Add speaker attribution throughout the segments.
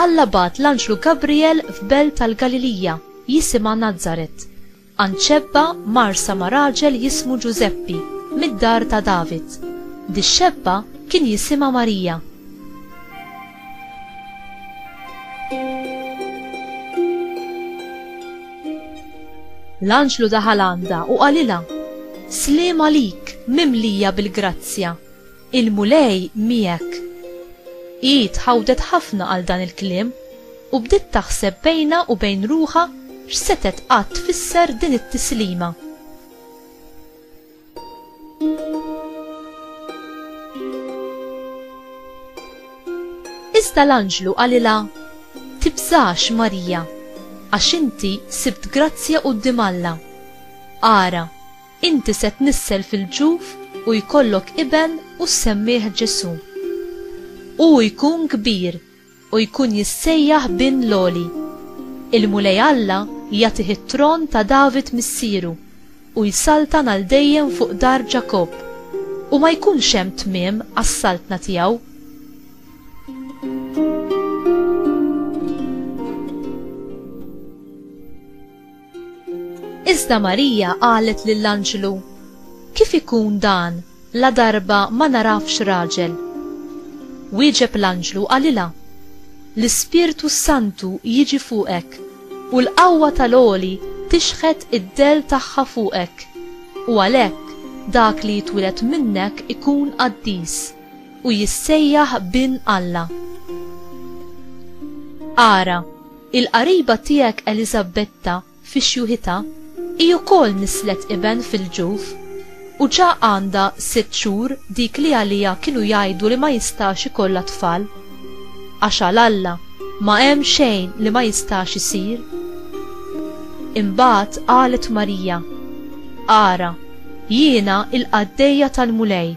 Speaker 1: Alla bagħat l-anġlu Gabrijel f'belt tal-Galilija jisimha Nazaret, għand xebba mgħarrsa ma' raġel jismu Ġużeppi, mid-dar ta' David. Dix-xebba kien jisimha Marija. L-anġlu daħal għandha u qalilha, Sliem għalik, mimlija bil-grazzja! Il-Mulej miegħek. Hi tħawdet ħafna għal dan il-kliem u bdiet taħseb bejnha u bejn ruħha x'setgħet qatt tfisser din it-tislima. Iżda l-anġlu qalilha, Tibżax, Marija, għax inti sibt grazzja quddiem Alla. Ara, Inti se tnissel fil-ġuf u jkollok iben u ssemmih Ġesù. Hu jkun kbir u jkun jissejjaħ Bin l-Għoli. Il-Mulej Alla jagħtih it-tron ta' David missieru u jsaltan għal dejjem fuq dar Ġakobb, u ma jkunx hemm tmiem għas-saltna tiegħu. Iżda Marija qalet lill-anġlu, Kif ikun dan, ladarba ma nagħrafx raġel? Wieġeb l-anġlu u qalilha, L-Ispirtu s-Santu jiġi fuqek, u l-qawwa tal-Għoli tixħet id-dell tagħha fuqek, u għalhekk dak li jitwiled minnek ikun qaddis, u jissejjaħ Bin Alla. Ara! Il-qariba tiegħek Eliżabetta fi xjuħitha hi wkoll nisslet iben fil-ġuf, u ġa għandha sitt xhur dik li għaliha kienu jgħidu li ma jistax ikollha tfal. Għax għal Alla ma hemm xejn li ma jistax isir. Imbagħad qalet Marija, Ara, jiena l-qaddejja tal-Mulej!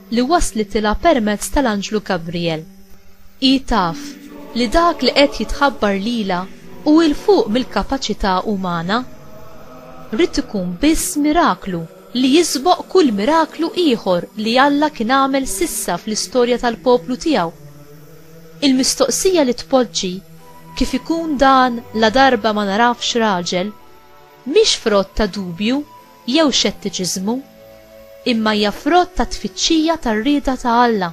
Speaker 1: li waslitilha permezz tal-anġlu Gabrijel. Hi taf li dak li qed jitħabbar lilha hu 'l fuq mill-kapaċità umana. Ried ikun biss miraklu li jisboq kull miraklu ieħor li Alla kien għamel s'issa fl-istorja tal-poplu tiegħu. Il-mistoqsija li tpoġġi, Kif ikun dan ladarba ma narafx raġel? mhix frott ta' dubju jew xettiċiżmu, imma hija frott ta' tfittxija tar-rieda ta' Alla.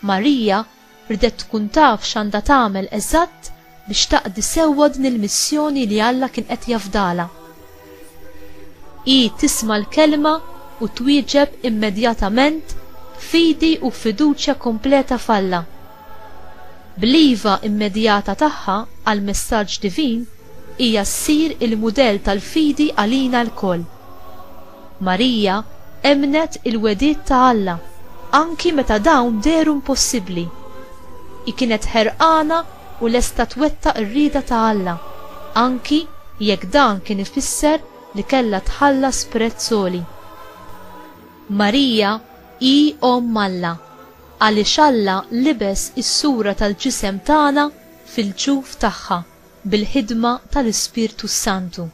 Speaker 1: Marija riedet tkun taf x'għandha tagħmel eżatt biex taqdi sewwa din il-missjoni li Alla kien qed jafdalha. Hi tisma' l-Kelma u twieġeb immedjatament b'fidi u b'fiduċja kompleta f'Alla. Bl-iva immedjata tagħha għall-messaġġ divin, hija ssir il-mudell tal-fidi għalina lkoll. Marija emmnet il-wegħdiet ta' Alla anki meta dawn dehru impossibbli. Hi kienet ħerqana u lesta twettaq ir-rieda ta' Alla, anki jekk dan kien ifisser li kellha tħallas prezz għoli. Marija hi Omm Alla. Għaliex Alla libes is-sura tal-ġisem tagħna fil-ġuf tagħha bil-ħidma tal-Ispirtu s-Santu.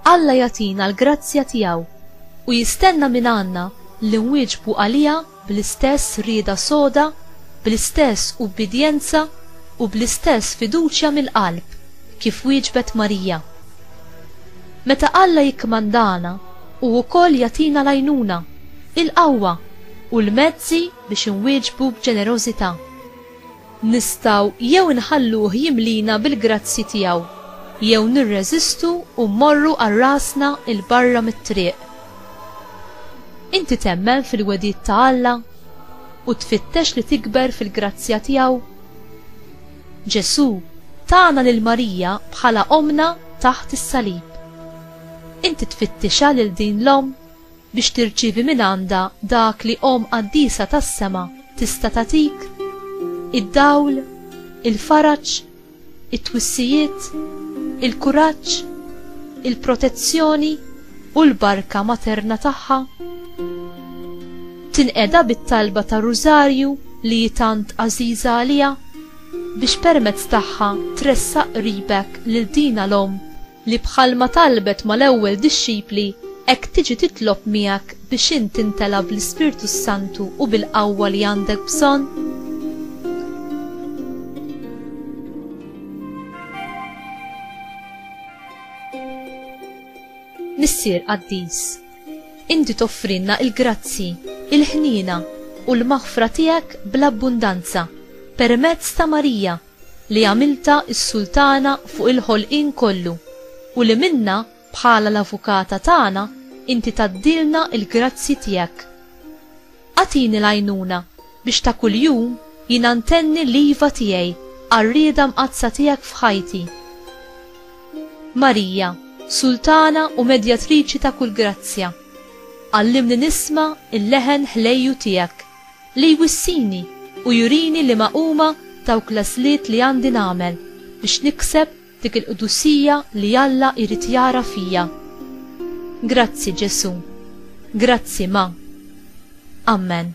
Speaker 1: Alla jagħtina l-grazzja tiegħu u jistenna mingħandna li nwieġbu għaliha bl-istess rieda soda, bl-istess ubbidjenza u bl-istess fiduċja mill-qalb kif wieġbet Marija. Meta Alla jikkmandana, hu wkoll jagħtina l-għajnuna, il-qawwa u l-mezzi biex inwieġbu b'ġenerożità. Nistgħu jew inħalluh jimlina bil-grazzji tiegħu, jew nirreżistu u mmorru għal rasna 'l barra mit-triq. Inti temmen fil-wegħdiet ta' Alla u tfittex li tikber fil-grazzja tiegħu? Ġesù tana lil Marija bħala Ommna taħt is-salib. Inti tfittixha lil din l-Omm? biex tirċievi mingħandha dak li Omm Qaddisa tas-sema tista' tagħtik, id-dawl, il-faraġ, it-twissijiet, il-kuraġġ, il-protezzjoni u l-barka materna tagħha. Tinqeda bit-talba tar-Rużarju li hi tant għażiża għaliha, biex permezz tagħha tressaq qribek lil dina l-Omm, li bħalma talbet mal-ewwel dixxipli, hekk tiġi titlob miegħek biex int tintela' bl-Ispirtu s-Santu u bil-qawwa li għandek bżonn? Missier qaddis, inti toffrilna l-grazzji, il-ħniena, u l-maħfra tiegħek bl-abbundanza permezz ta' Marija, li għamiltha s-Sultana fuq il-ħolqien kollu u li minnha bħala l-Avukata tagħna inti tgħaddilna l-grazzji tiegħek. Agħtini l-għajnuna biex ta' kuljum jiena ntenni l-iva tiegħi għar-rieda mqaddsa tiegħek f'ħajti. Marija, Sultana u Medjatriċi ta' kull grazzja, għallimni nisma' l-leħen ħlejju tiegħek. Li jwissini u jurini liema huma dawk l-għażliet li għandi nagħmel biex nikseb dik il-qdusija li Alla jrid jara fija. Grazzi, Ġesù. Grazzi, Ma. Ammen.